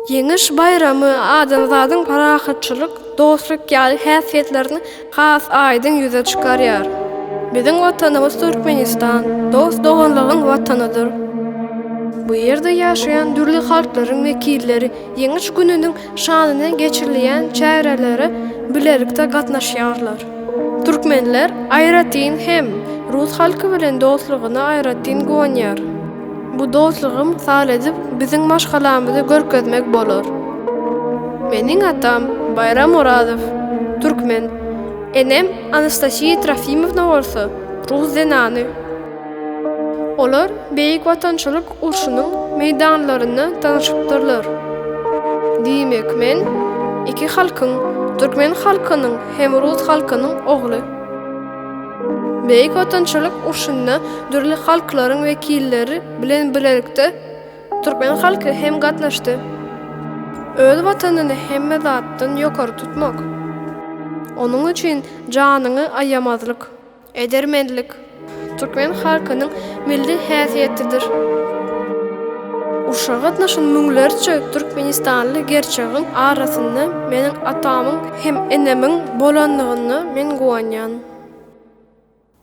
Ýeňiş baýramy adamzadyň parahatçylyk, dostluk ýaly häsiýetlerini has aýdyň ýüze çykarýar. Biziň Watanymyz Türkmenistan dost-doganlygyň Watanydyr. Bu ýerde ýaşaýan dürli halklaryň wekilleri Ýeňiş gününiň şanyna geçirilýän çärelere bilelikde gatnaşýarlar. Türkmenler aýratyn hem rus halky bilen dostlugyny aýratyn guwanýar. Bu dostlugy mysal edip biziň maşgalamyzy görkezmek bolar. Meniň atam Baýram Orazow, türkmen, enem Anastasiýa Trofimowna bolsa rus zenany. Olar Beýik Watançylyk urşunyň meýdanlarynda tanyşypdyrlar. Diýmek, men iki halkyň, türkmen halkynyň hem rus halkynyň ogly. Beýik Watançylyk urşunda dürli halklaryň wekilleri bilen bilelikde türkmen halky hem gatnaşdy. Öz Watanyny hemme zatdan ýokary tutmak, onuň üçin janyňy aýamazlyk. Edermenlik, türkmen halkynyň milli häsiýetidir. Urşa gatnaşan müňlerçe türkmenistanly gerçegiň arasynda meniň atamyň hem enemiň bolandygyna men guwanýan.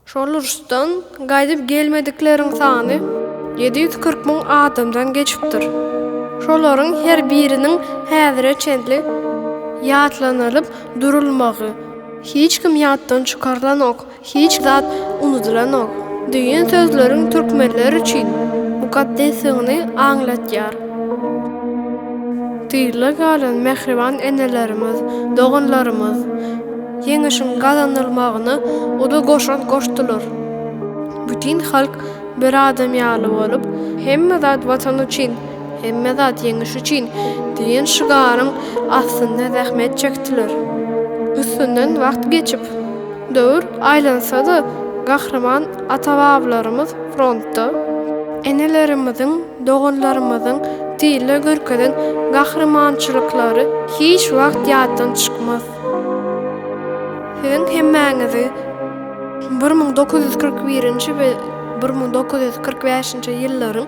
Şol uruşdan gaýdyp gelmedikleriň sany ýedi ýüz kyrk müň adamdan geçipdir. Şolaryň her biriniň häzire çenli ýatlanylyp durulmagy, Hiç kim ýatdan çykarylanok, hiç zat unudylanok diýen sözleriň türkmenler üçin mukaddesdigini aňlatýar. Tygla galan mähriban enelerimiz, doganlarymyz Ýeňişiň gazanylmagyna uly goşant goşdular. Bütin halk bir adam ýaly bolup, hemme zat Watan üçin! Hemme zat ýeňiş üçin! diýen şygaryň astynda zähmet çekdiler. Üstünden wagt geçip, döwür aýlansa-da, gahryman ata-babalarymyz frontda, enelerimiziň, doganlarymyzyň tizde görkezen gahrymançylyklary hiç wagt ýatdan çykmaz. Siziň hemmäňizi bir müň dokuz ýüz kyrk birinji we bir müň dokuz ýüz kyrk bäşinji ýyllaryň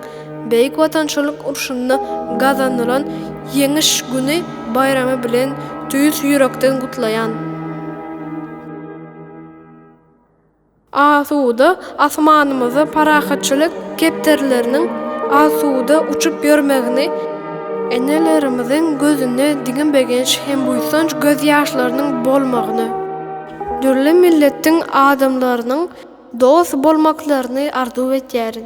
Beýik Watançylyk urşunda gazanylan Ýeňiş güni baýramy bilen tüýs ýürekden gutlaýan! Asuda asmanymyzda parahatçylyk kepderileriniň asuda uçup ýörmegini, enelerimiziň gözünde diňe begenç hem buýsanç gözýaşlarynyň bolmagyny, dürli milletiň adamlarynyň dost bolmaklaryny arzuw edýärin.